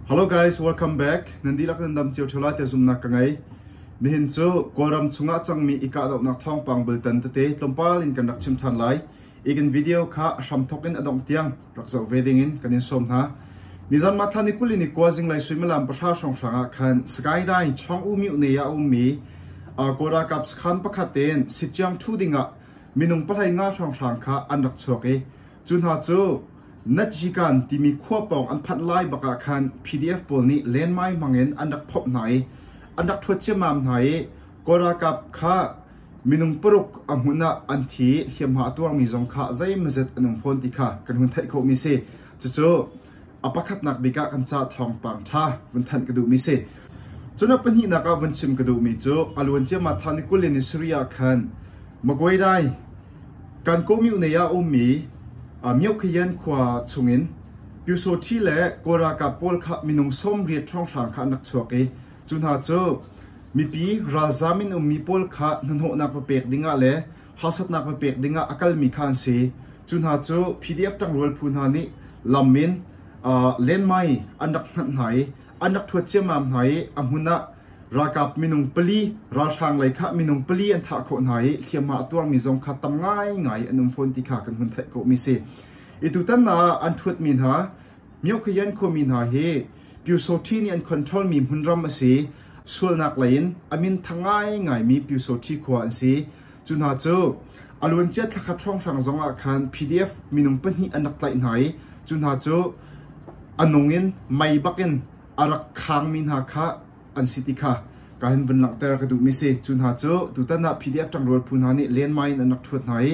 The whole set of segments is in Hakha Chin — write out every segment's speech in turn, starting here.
Hello guys, welcome back. Nan dihlak nan dam cio ṭheo lai tiah zumhnak ka ngei. Nihin cu Kawlram chungah cangmi i kahdohnak thawngpang bultan tete tlawmpal in kan rak chim ṭhan lai. I kan video kha a hramthawk in a dongh tiang rak zoh ve ding in kan in sawm hna. Nizan matla ni kul in i kua zinglei suimilam pahra hrawnghrang ah khan skyline chawng u miu ne ah a ummi uh, Kawl ralkap sakhan pakhat tein sithiang ṭhu ding ah minung pahlai nga hrawnghrang kha an rak chuak i Cu hna cu Najikan timi khua pawng an phanh lai bak ah khan PDF pawl nih lenmai hmangin an rak phomh hna i an rak thuat ciammam hna i Kawl ralkap kha minung paruk a hmun ah an thi i hliamhma a tuarmi zong kha zeimazet an um fawn ti kha kan hun theih khawhmi a si. Cucu A pakhatnak bik ah kan ca thawngpang ṭha vun thanh ka duhmi si. Cun a pahnihnak ah vun chim ka duhmi cu a luan ciamat thawni kul in Syria ah khan Maguirai kan community ah ummi uh, Myoukhian khua chungin Pyusawṭhi le Kawl ralkap pawl kha minung sawmriat hrawnghrang kha an rak chuak i cu hna cu mipi ralzam in ummi pawl kha hnahnawhnak va pek dingah le harsatnak na pek dingah a kalmi kha an si. Cu hna cu PDF ṭangrual phu hna nih lam in lenmai an rak hngat hna i an rak ṭhuat ciammam hna i a hmun ah ralkap minung pali ralhrang lei kha minung pali an thah khawh hna i hliamhma a tuarmi zong kha tam ngaingai an um fawn ti kha kan hun theih khawhmi si. I tutan ah an ṭhuatmi hna Myokhiyan khuami hna hi Pyusawṭhi nih an controlmi hmunram a si. Sualnak leiin a minthang ngaingaimi Pyusawṭhi khua an si. Cu hna cu a luancia thla khat hrawnghrang zongah khan PDF minung pahnih an rak tlaih hna i cu hna cu a nung in mei bakin a rak khangmi hna kha an si ti kha ka hin vun langhter ka duhmi si. Cu hna cu tutan ah PDF ṭangrual phu hna nih lenmai in an rak ṭhuat hna i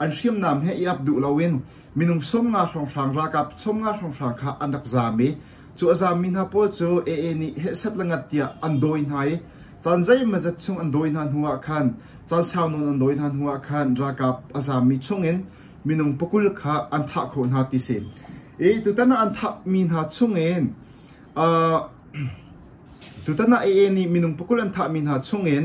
An hriamnam he i ap duh loin minung sawmnga hrawnghrang ralkap sawmnga hrawnghrang kha an rak zam i cu a zammi hna pawl cu AA nih hehsat le ngat tiah an dawi hna i caan zeimazat chung an dawi hna hnuah khan caan sau nawn an dawi hna hnuah khan ralkap a zammi chungin minung pakul kha an thah khawh hna ti si. I tutan ah an thahmi hna chungin uh, tutan ah AA nih minung pakul an thahmi hna chungin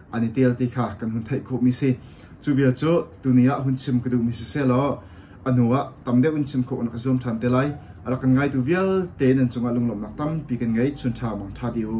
an i tel ti kha kan hun theih khawhmi si. Cu vial cu tuni ah hun chim ka duhmi sisehlaw a hnu ah tam deuh in chim khawh rak zuam ṭhan te lai. A rak kan ngaitu vialte nan cungah lunglawmhnak tampi kan ngei chun ṭha mang ṭha di u.